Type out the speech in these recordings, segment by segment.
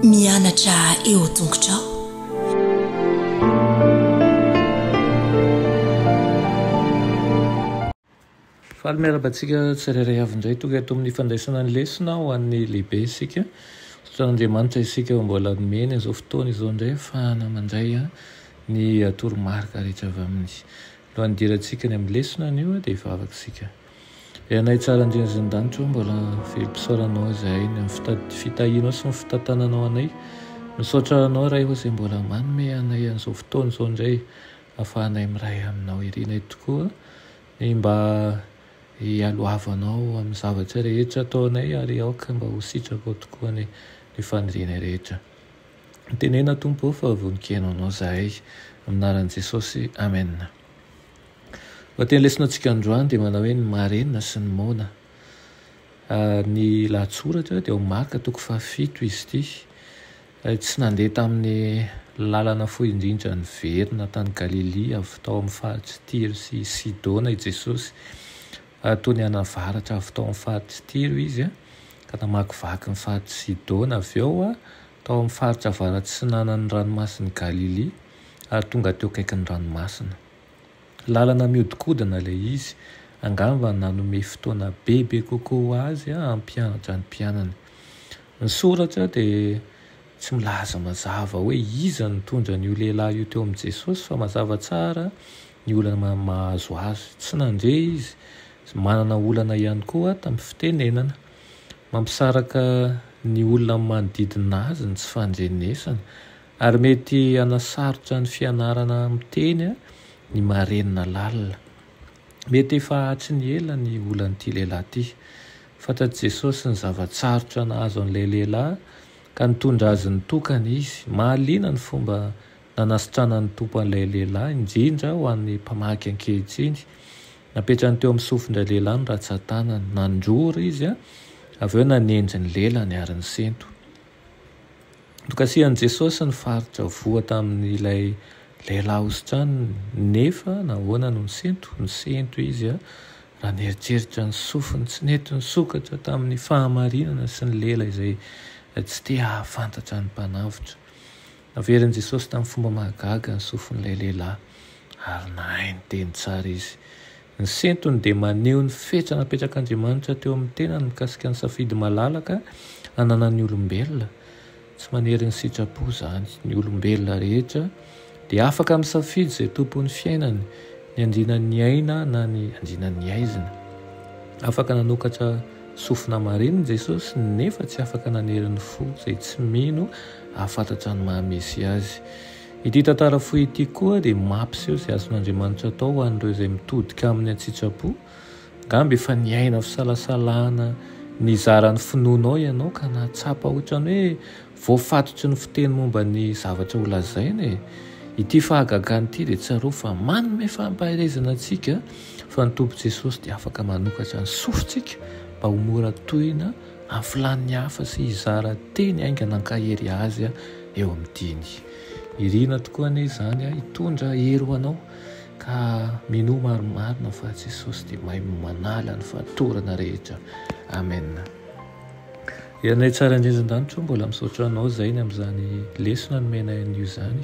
Mianatra eo tongotrao. Faly miarahaba antsika tsirairay avy indray tonga eto amin'ny fandraisana ny lesona ho an'ny lehibe isika. Andriamanitra isika ho mbola nomeny izao fotoana izao indray fahana mandray ny toromarika rehetra avy amin'ny No andirantsika ny amin'ny lesona anio dia hivavaka isika. Ry Anay tsara indrindra izay any an-danitra ô, mbola velom-pisaoranao izahay ny amin'ny fitahianao sy ny fitantananao anay. Misaotra Anao Ray ô izay mbola manome anay an'izao fotoana izao indray ahafahanay miray Aminao. Irinay tokoa ny mba hialohavanao amin'ny zavatra rehetra ataonay ary aoka mba ho sitrakao tokoa ny fanirianay rehetra. Tenena Tompo ô fa vonon-kena anao zahay. Amin'ny anaran'i Jesosy, Amen. Lohateny lesona antsika androany dia manao hoe ny marina sy ny moana. Ny lahatsoratra dia ao Marka toko fahafito izy ity. Tsy nandeha tamin'ny lalana fohy indrindra niverina tany Galilia avy tao amin'ny faritry Tyro sy Sidona i Jesosy Tony any avaratra avy tao amin'ny faritra Tiro izy, ka namakivaky ny faritr'i Sidona avy eo, tao amin'ny faritra avarats'atsinanan'ny Ranomasin'i Galilia, ary tonga teo akaikin'ny ranomasina. Lalana mihodinkodina ilay izy, angamba nanome fotoana bebe kokoa ho azy hampianatra ny mpianany. Ny soratra dia tsy milaza mazava hoe iza no nitondra an'io lehilahy io teo amin'i Jesosy, fa mazava tsara ny olana mahazo azy. Tsy nandre izy. Manana olana ihany koa tamin'ny fitenenana. Mampisaraka ny olona amin'ny manodidina azy ny tsy fandrenesana, ary mety hanasarotra ny fianarana miteny ny marenina lalina. Mety efa hatry ny ela ny olan'ity lehilahy ity. Fantatr'i Jesosy ny zava-tsarotra nahazo an'ilay lehilahy, ka nitondra azy nitokana izy. Mahaliana ny fomba Nanasitrana ny Tompo an'ilay lehilahy, indrindra ho an'ny mpamaky ankehitriny. Napetrany teo amin'ny sofindray lehilahy ny ratsan-tanany. Nanjoro izy, avy eo nanendry ny lelany ary nisento. Nokasihan'i Jesosy ny faritra voa tamin'ilay lehilahy hositraniny. Nefa nahoana no nisento? Nisento izy raha nieritreritra ny sofiny tsy nety nisokatra tamin'ny fahamarinana sy ny lela izay tsy te hahafantatra ny Mpanavotra. Naverin'i Jesosy tamin'ny fomba mahagaga ny sofin'ilay lehilahy, ary nahay niteny tsara izy. Ny sentony dia maneho ny fetra napetrak'Andriamanitra teo amin'ny tenany mikasika ny safidy malalaka ananan'ny olombelona. Tsy manery ny sitrapo izany. Ny olombelona rehetra dia afaka misafidy izay tompon'ny fiainany, Ny andianan'ny aina na ny andianan'ny aizina. Afaka nanokatra sofina marina i Jesosy, nefa tsy afaka nanery ny fo izay tsy mino hahafantatra ny maha Mesia Azy. Ity tantara fohy ity koa dia mampiseho izay azon'Andriamanitra atao ho an'ireo izay mitodika Aminy an-tsitrapo. Angamba efa niaina fisalasalana nizara ny finoanao ianao ka nahatsapa ohatran'ny hoe Voafatotry ny fiteny momba ny zavatra ho lazaina e! Ity fahagagana ity dia tsarovy fa manome fampaherezana antsika fa ny Tompo Jesosy dia afaka manokatra ny sofintsika mba ho mora tohina amin'ny filàn'ny hafa sy hizara teny haingana hankahery Azy eo amin'ny diany. Irina tokoa anie izany hitondra hery ho anao ka minoa marimarina fa Jesosy dia mahay manala ny fatorana rehetra. Amen. Ianay tsara indrindra an-danitra o, mbola misaotra anao zainy amin'izany lesona nomenay anio izany,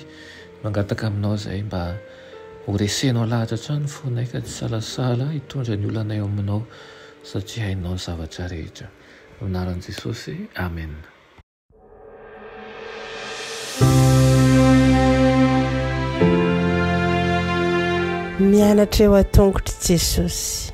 mangataka aminao zahay mba horesenao lahatra hatrany ny fonay ka tsy hisalasala hitondra ny olanay ao aminao satria hainao ny zavatra rehetra. Amin'ny anaran'i Jesosy, Amen. Mianatra eo an-tongotr'i Jesosy.